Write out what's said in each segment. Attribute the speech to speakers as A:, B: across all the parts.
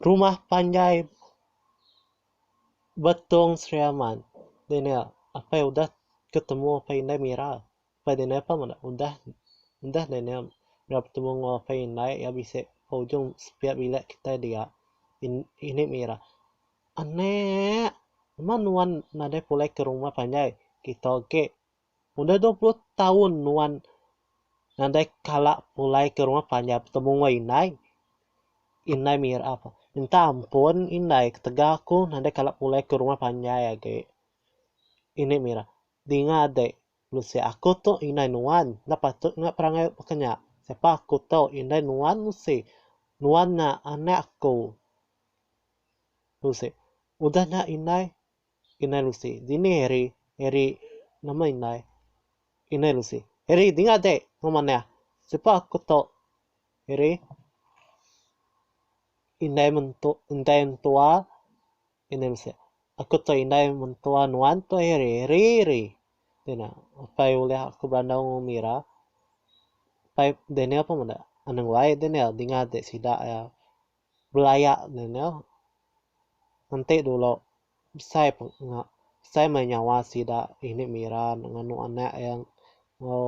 A: Rumah panjai Betong Sri Aman. Deh nya apai udah ketemu apai indai Mira. Apai deh nya apai meda udah udah deh nya ira betemu enggau apai indai iya bisi ba ujung sepiak bilik kitai dia in ini Mira. Aneek. Numa nuan nadai pulai ke rumah panjai. Kita age Udah dua puluh taun nuan nadai kala pulai ke rumah panjai betemu enggau indai. Indai mira ko, Minta ampun indai ketegal aku nadai kala pulai ke rumah panjai agi. Inde mira, Dinga ade, nusi aku tu indai nuan enda patut enggau perangai baka nya. Sapa aku tu indai nuan nusi. Nuan nya anak aku. Nusi, Udah nya indai. Inai Lucy, Dini Harry, Harry, Nama indai? Inai Lucy, Harry dinga deh enggau manah, Sipa aku tu? Harry, Indai mentua, indai mentua, Inai Lucy, Aku tu indai mentua nuan tu Harry, Harry, Harry. Dina, Apai ulih aku berandau enggau umi ira? Apai Daniel pun meda, Anang wai Daniel, dinga deh sida iya. Belaya ne nya enti dulu besai peng besai meh nyawa sida ini mira ne nganu anak iya enggau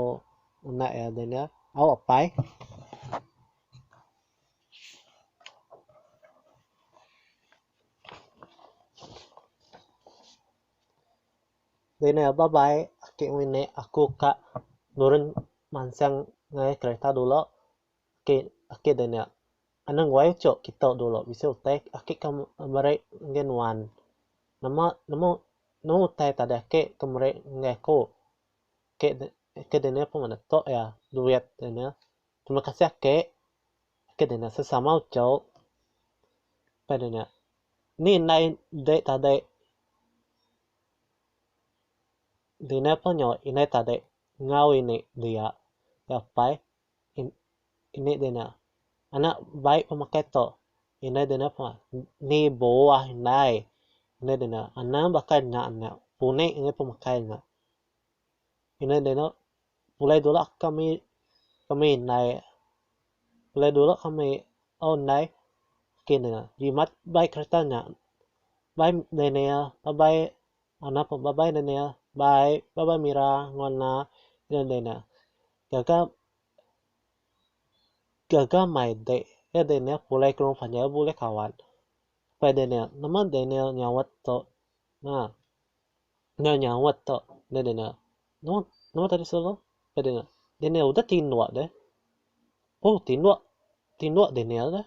A: anak iya de nya au apai. Deh ne ba bai ake ngelinek aku ka nurun mansang ngai kereta dulu. Ake ake deh nya. Anang wai ucho kitok dulu bisi utai ake ka meri ngagai nuan. Nama nama nama utai tadi ake ke meri ngagai aku. Ake de ake deh nya pun ngena tok iya duit deh nya. Terima kasih ake. Ake deh nya sesama ucho. Pai deh nya. Ni indai ende tadi dina pun nyau indai tadi enggau ini dia. Nya pai Ini dina anak bai pemakai to ina dina ni buah indai ina dina anak baka nya nya puni angai pemakai nya ina dina pulai dulu kami kami indai pulai dulu kami tau indai kini dina jimat bai kereta nya bai daniel bai anak pun bai daniel bai bai mira ngau ina dina. Gaga gaga mai dek ya Daniel pulai ke rumah nya bulih kawan. Pai Daniel, nama Daniel nyaut tu na. Nya nyaut tu dah Daniel. Nama nama tadi selalu? Pai Daniel. Daniel udah tinduk deh. Oh tinduk tinduk Daniel deh.